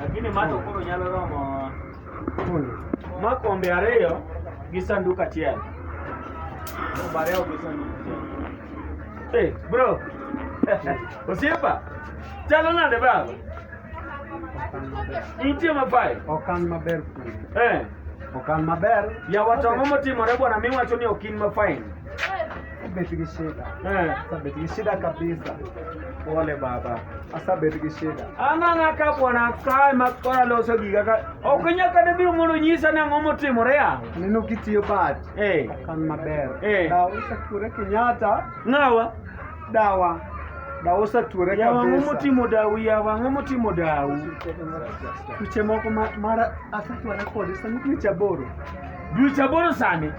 Lakini mato koro nyalo romo ma kombe ariyo gi sanduk achiel. Kombe ariyo gi sanduk achiel. Hey, bro. Osiepa. Chalo nade baba? Nitie mapayo. Okan maber kuno. Eh. Okan maber. Yawa tong'o motimore bwana miwacho ni okin mafain. Asabeti kishida. Eh. Asabeti kishida kabisa. Pole baba. Asabeti kishida. Ana na ka bwana kae makora loso giga ka. Okinya ka debi mondo nyisa na ngomo timore ya. Nino kitiyo bat. Eh. Kan maber. Eh. Da usa kure kinyata. Ngawa. Dawa. Da usa ture kabisa. Ya wangu mutimo dawu ya wangu mutimo dawu. Tuche moko mara asatu anakodisa mtu chaboro. Ducha boro sani.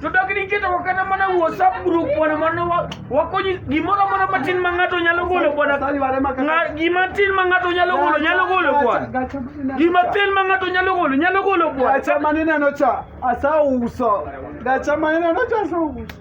To dak niketo wakata mana WhatsApp group bwana mwana wa- wakonyi gimoro amora matin ma ng'ato nyalo golo bwana Sali wale maka- Nga- gima tin ma ng'ato nyalo golo nyalo golo bwana Gacha maneno gima cha. tin ma ng'ato nyalo golo nyalo golo bwana Gacha maneno cha asauso. Gacha maneno cha asauso.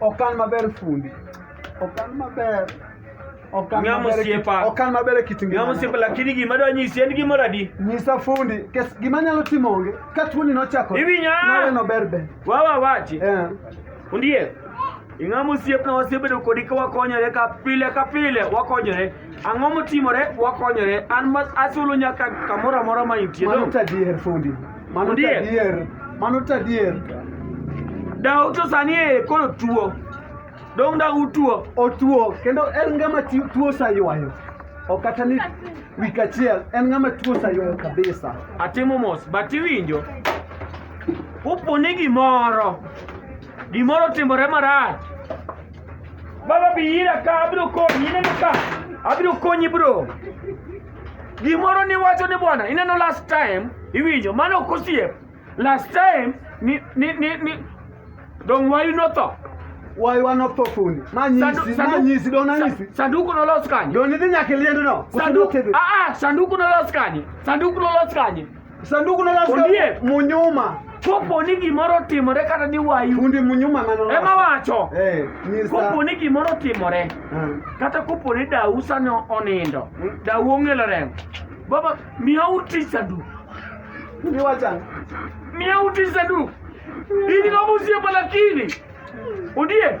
Okan maber fundi. Okan maber. Okan Ng'ama maber. osiepa. Okan maber e kit ngima. Ng'ama osiepa lakini gima adwa nyisi en gimoro adi. Nyisa fundi, kes gima nyalo timo onge. Ka tuoni nochako. Iwinyo? Nawe no ber be. Wawa wachi. Eh. Fundie. Ing'ama osiepna wasebedo kodi ka wakonyore ka pile ka pile wakonyore. Ang'o motimore? Wakonyore. An ma asulo nyaka kamoro amora ma intie. Mano to adier fundi. Mano to adier. Mano to adier. Daw to sani e koro tuo. Dong da utuo. Otuo kendo en ngama tuo saywayo. Ok kata ni wik achiel en ngama tuo saywayo kabisa. Atimo mos but iwinjo. Upone gimoro. Gimoro timore marach. Baba bi ira ka abiro konyi ineno ka abiro konyi bro. Gimoro ni wacho ni bwana ineno last time iwinjo mano ok osiep. Last time ni ni ni, ni dong wayu notho. waywa notho fundi Sandu- manyisi sandu- manyisi don anyisi sa- Sanduku nolos kanye? don idhi nyaka iliendno Sanduku ah ah sanduku nolos kanye? Sanduku nolos kanye? Sanduku na kasto Ondiek. munyuma. Kopo ni gimoro otimore kata ni wayu Fundi munyuma mano. ema wacho Eh, nyisa. kopo ni gimoro otimore Ah. kata kopo ni dau sani onindo dau ong'elo remo baba miyauru tich sanduku Fundi wacha. miyauru tich sanduku in gomosiepa lakini Ondiek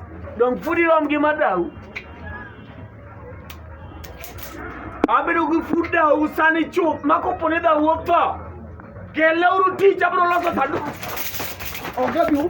Donge pod irom gi madau? Abedo gi fut dau sani chuth ma kopo ni dau wuok to keleuru tich abiro loso sanduku. Onge biu.